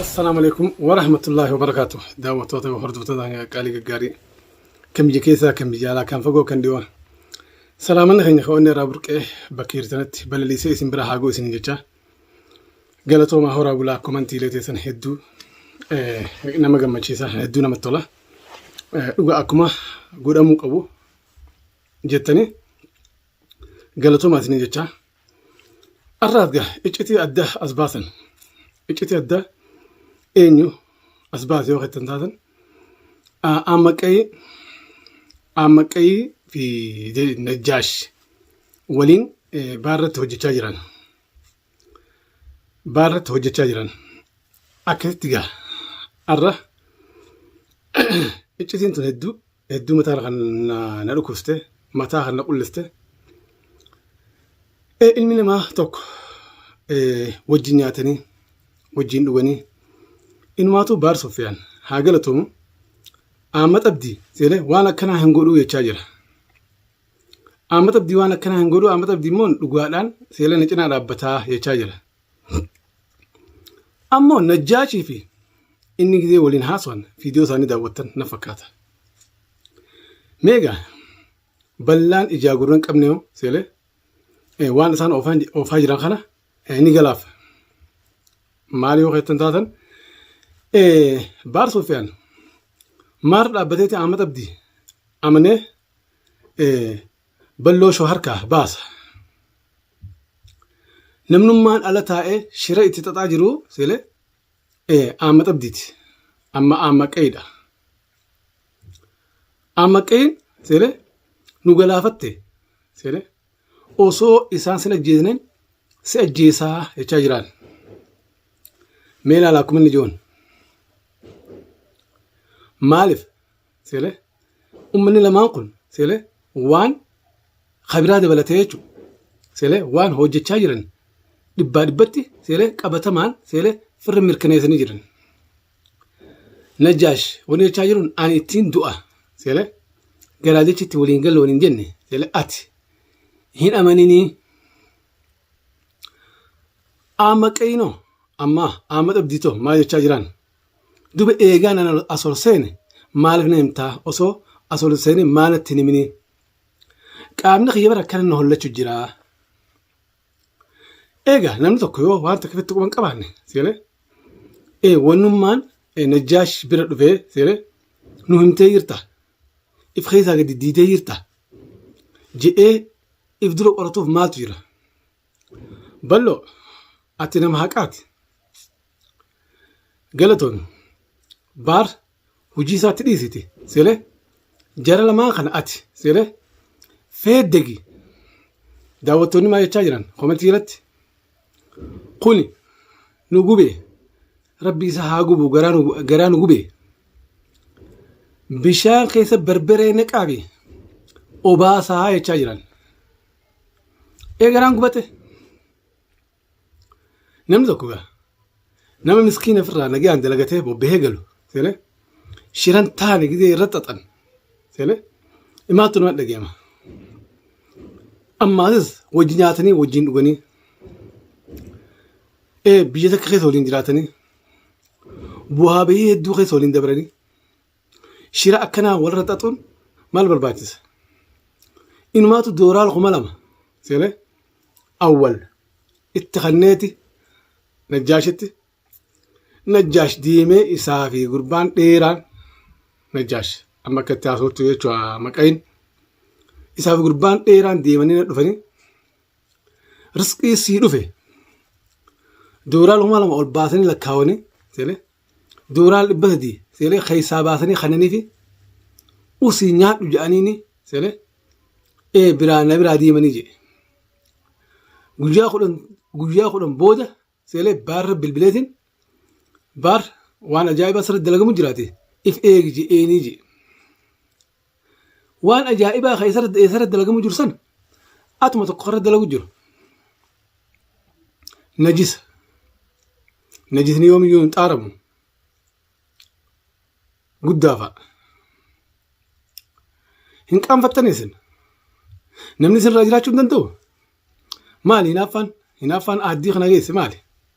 Assalaamu alaikum wa rahmatullahi wa barakaatu. Daawwattoota fi hordoftoota hanga qaalii gaggaarii kan biyya keessaa kan biyya alaa kan fagoo kan dhiyoo. Salaamanni keenya kan onnee irraa burqee bakka jirtanitti balaliisee isin bira haagoo isin jecha. Galatoomaa horaa bulaa komantiilee teessan hedduu eh, nama gammachiisa hedduu namatti tola. Eh, Dhugaa akkuma godhamuu qabu jettanii galatoomaa isin jecha. Har'aaf gaa iccitii adda as baasan. Iccitii adda eenyu as baase yoo jettan taatan Aammaqqayii Aammaqqayii fi Najjaash waliin baarratti hojjechaa jiran. Baarratti hojjechaa jiran. Akkasitti gaa har'a iccitiin tun hedduu Hedduu mataan kan na dhukkubste mataa kan na qulliste ilmi namaa tokko wajjin nyaatanii wajjin dhuganii inumaatuu baar soffiyaan haa galatoomu Ahmad Abdii jedhee waan akkanaa hin godhuu jechaa jira. Ahmad Abdii waan akkanaa hin godhuu Ahmad Abdii immoo dhugaadhaan seela na cinaa dhaabbataa jechaa jira. Ammoo Najjaashii fi inni gizee waliin haasawan viidiyoo isaanii daawwattan na fakkaata. Meegaa ballaan ijaa gurra hin qabne hoo seelee waan isaan oofaa jiran kana ni galaaf. Maal yoo keessan taatan baar Sofiyaan maar dhaabbateeti Ahmad Abdii amanee Balloo show harkaa baasa. Namnummaan ala taa'ee shira itti xaxaa jiru sile aamma xabdiiti. Amma aamma qeeyidha. Aamma qeeyin sile nu galaafatte sile osoo isaan sin ajjeesne si ajjeesaa jechaa jiraan. Mee ilaala akkuma inni joon. Maaliif Seele ummanni lamaan kun seele waan kabiraa dabalatee jechuun seele waan hojjechaa jiran dhibbaa dhibbatti seele qabatamaan seele firri mirkaneessanii jiran. Najjaash wani jechaa jiruun ani ittiin du'a seele garaa jechitti waliin galle waliin jenne seele ati hin amaninii amma qeeyinoo amma amma dhabdiitoo maal jechaa jiraan Dube eegaa nan as ol seene maaliif na himtaa osoo as ol seenee maa natti hin himinii qaamni kiyya bara akkana na hollachu jira. Eegaa namni tokko yoo waan tokko ifitti quban qabaanne seelee ee wannummaan najjaash bira dhufee seelee nu himtee jirta if keessaa gadi diidee jirta jedhee if dura qoratuuf maaltu jira. Ballo ati nama haqaati. Galatoon baar hojii isaatti dhiisiti sire jara lamaa kana ati sire feeddegi daawwattoonni maa jechaa jiran komentii irratti kuni nu gube rabbi isa haa gubu garaa nu- garaa nu gube bishaan keessa barbaree naqaabi obaasaa jechaa jiran ee garaan gubate Namni tokko gaa nama miskiina ofirraa nagaan dalagatee bobbahee galu seene shiran taane gidee irra xaxan seene imaattu nama dhageema. Ammaatis wajji nyaatanii wajjin dhuganii ee biyya takka keessa waliin jiraatanii bu'aa bahii hedduu keessa waliin dabranii Shira akkanaa walirra xaxuun maal barbaachisa? Inumaatu dooraal kuma lama seenee awwal itti kanneeti najjaashitti najjaash diimee isaa fi gurbaan dheeraan najjaash amma akka itti haasoftu jechuudha maqayin isaa fi gurbaan dheeraan deemanii na dhufanii risqii sii dhufe dooraal kuma lama ol baasanii lakkaawanii seenee Dooraal dhibba sadii seelee keessaa baasanii kannanii fi usii nyaadhu jedhaniini seelee ee biraa na biraa deemanii jedhe. Guyyaa kudhan guyyaa kudhan booda seelee baarra bilbileetiin baar waan ajaa'ibaa sirri dalagamu jiraate if eegi jedheenii jedhe. waan ajaa'ibaa kan isarratti eessarratti dalagamu jiru sana atuma tokko irratti dalagu jiru najisa najisni yoomiyyuu hin xaaramu guddaa fa'a hin qaanfattan isin namni isin irraa jiraachuu hin danda'u maali hinaaffaan hinaaffaan aaddii kana geesse maali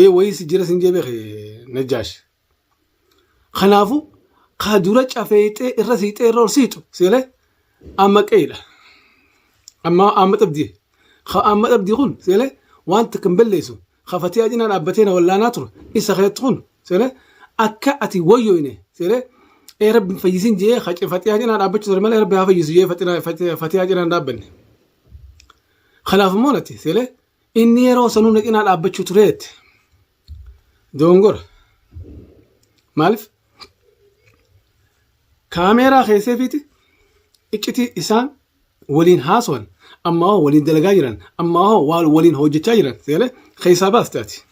ee wayii si jira sin jee beeke najjaash kanaafu kaa dura cafeexee irra siixee irra ol siixu seelee amma qeedha amma amma dhabdii ka amma dhabdii kun seelee wanta kan balleessu ka fatiyaa cinaa dhaabbatee na wallaanaa ture isa keetti kun seelee akka ati wayyoyne seelee ee rabbi fayyisin jee ka fatiyaa cinaa dhaabbachuu ture malee rabbi haa fayyisu jee fatiyaa cinaa dhaabbanne kanaaf immoo natti seelee Inni yeroo sanuu na cinaa dhaabbachuu tureet doongora. Maaliif? Kaameeraa keesseefiiti iccitii isaan waliin haasawan ammaa hoo waliin dalagaa jiran ammaa hoo waan waliin hojjechaa jiran seelee keessaa baaste ati.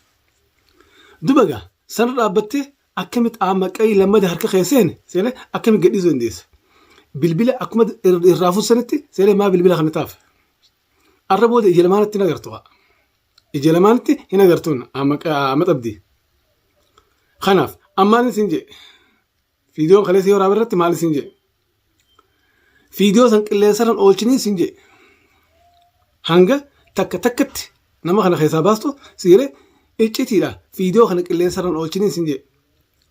Duba gaa sana dhaabbattee akkamitti aamaqqayii lammada harka keesseen seelee akkamitti gadhiisuu dandeessa? Bilbila akkuma irraa fuussanitti seelee maa bilbila kana taaf? Arra booda ija lamaanitti hin agartu haa. Ija lamaanitti hin agartuun amma xabdii. Kanaaf ammaan isin jee fiidiyoon kaleessa yoo raaba irratti maal isin jee fiidiyoo san qilleensarran oolchinii isin jee hanga takka takkatti nama kana keessaa baastu si jedhee iccitiidha fiidiyoo kana qilleensarran oolchinii isin jee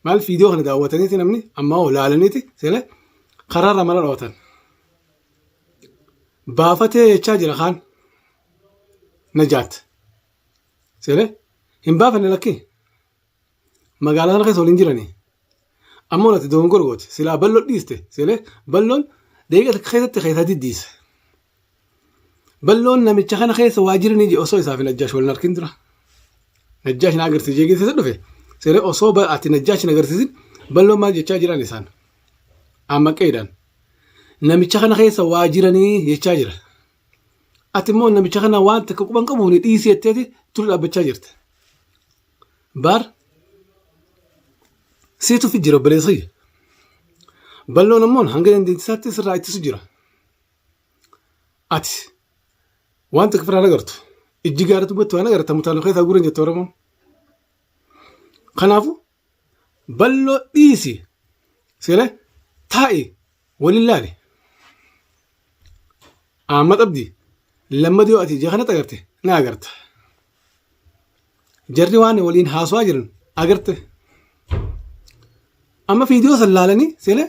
maal fiidiyoo kana daawwataniiti namni ammaa hoo laalaniiti si jedhee karaarra mana dhoowwatan. baafatee jechaa jira kaan najaat seene hin baafanne lakkii magaalaa sana keessa waliin jiranii ammoo natti doongor goote silaa balloon dhiiste seene balloon deebi'ee takka keessatti keessaa diddiise balloon namicha kana keessa waa jiranii je osoo isaaf najjaash waliin arkin dura najjaash na agarsiisee geessisa dhufe seene osoo ati najjaash na agarsiisin balloon maal jechaa jiran isaan. Amma qeedhaan namicha kana keessa waa jiranii jechaa jira. Ati immoo namicha kana waan takka quban qabuun dhiisii jetteeti tura dhaabbachaa jirte. Baar siitu fi jira obboleessa kiyya. Balloon ammoo hanga dandeettisaatti sirraa ittisu jira. Ati waan takka firaan agartu ijji gaara dubbatti waan agarta mutaaloo keessaa guuran jette Oromoon. Kanaafuu Balloo dhiisi sire taa'i waliin laali. Ahmad Abdi lammada yoo ati ija kanatti agarte na agarta. Jarri waan waliin haasawaa jiran agarte. Amma viidiyoo san laalanii sire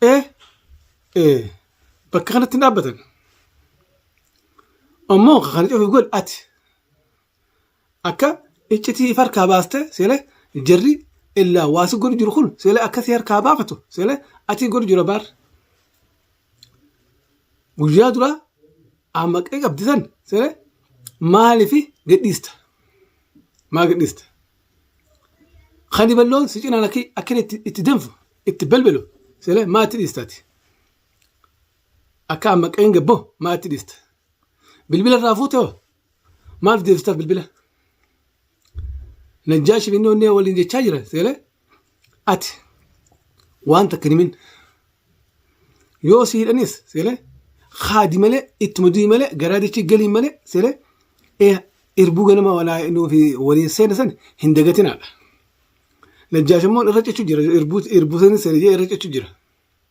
ee ee bakka kanatti hin dhaabbatan. Ammoo kan cufi godhe ati. akka iccitii if harkaa baastee seelee jarri illaa waasi godhu jiru kun seelee akka si harkaa baafatu seelee atii godhu jira baar guyyaa duraa ammaqee qabdi san seelee maalifi gadhiista maa gadhiista kan balloon si cinaan akka akka inni itti- itti danfu itti belbelu seelee maa itti dhiistaati akka ammaqeen gabboo maa itti dhiista bilbila irraa fuute hoo Maaf deebistaa bilbila? Najjaashi inni onnee waliin jechaa jira seelee ati waan takka hin himin yoo si hidhanis seelee haadi malee ittuma du'i malee garaa dachii galiin malee seelee ee irbuu ganama walaa nuufi waliin seena san hin dagatinaadha. Najjaashi immoo irra cechuu jira irbuu irbuu sanis seelee irra cechuu jira.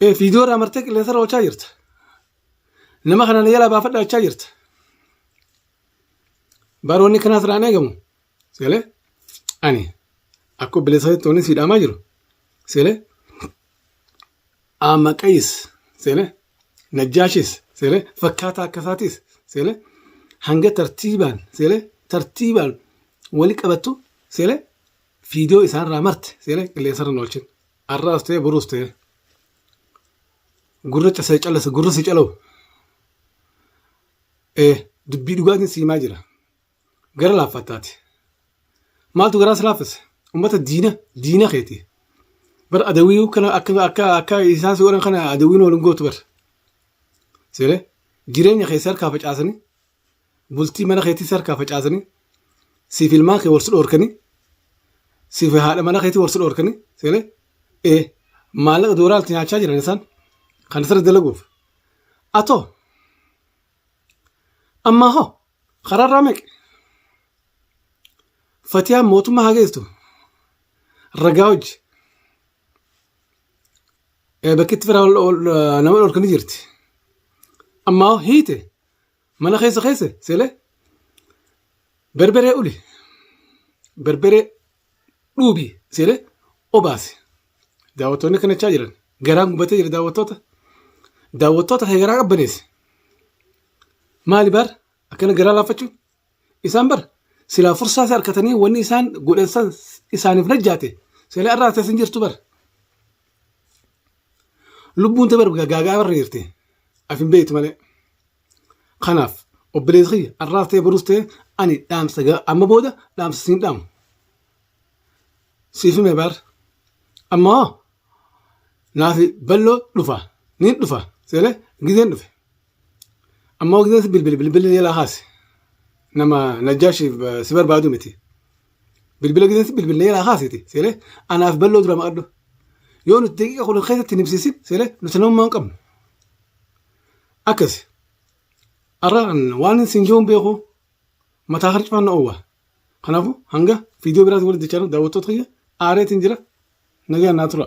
Ee, Viidiyoo irraa martee qilleensa irra oolchaa jirta. Nama kana na jalaa baafadhaa jechaa jirta. Baroonni kanaas irraa hin eegamu. Seelee ani akka obboleessa tooniin si dhaamaa jiru. Seelee Amaqayis seelee Najjaashis seelee fakkaataa akka isaatis seelee hanga tartiibaan seelee tartiibaan wali qabattu seelee viidiyoo isaanirraa marte seelee qilleensa irra hin oolchin. Har'aas ta'e boruus ta'e gurra casee callasa gurra si calau. Ee dubbii dhugaatiin si himaa jira. Gara laaffattaati. Maaltu garaa si laaffise? Uummata diina diina keeti. Bar adawii kana akka akka akka isaan si godhan kana adawiin waliin gootu bar. Seeree jireenya keessa harkaa facaasanii bultii mana keetii si harkaa facaasanii siif ilmaan kee wal si dhoorkanii siif haadha mana keetii wal si dhoorkanii seenee ee maallaqa doolaarti nyaachaa jiran isaan kan sirri dalaguuf atoo ammaa hoo karaarraa meeqe fatiyaan mootummaa haa geessu ragaa hojji bakkitti fira nama dhorkanii jirti ammaa hoo hiite Mana keessa keessa selee berberee uli berberee dhuubi selee obaasi. Daawwattoonni kana jechaa jiran garaan gubatee jira daawwattoota. Daawwattoota kee garaa qabbaneessi. Maali baar akkana garaa laaffachuun isaan bar silaa fursaa isa harkatanii wanni isaan godhan san isaaniif najjaate silaa irraa tasin jirtu bar lubbuun ta bar gaagaa barra jirti af hin beektu malee kanaaf obboleessi kiyya arraas ta'e boruus ta'e ani dhaamsa ga- amma booda dhaamsa siin dhaamu siif hime bar amma hoo naafi balloo dhufa niin dhufa seele gizeen dhufe Amma waqtii kanatti bilbila bilbila jalaa kaase. Nama najjaashiif eh, si barbaadu miti. Bilbila keessatti bilbila jalaa kaasiti. Seelee anaaf balloo dura maqadhu. Yoo nuti daqiiqa kudhan keessatti hin ibsiisin seelee nuti namummaa hin qabnu. Akkasi. Arra waan isin jiruun beeku mataa harcifaan na oowwa. Kanaafuu hanga viidiyoo biraatti walitti jechaa daawwattoota kiyya aareetiin jira nagaan naa tura.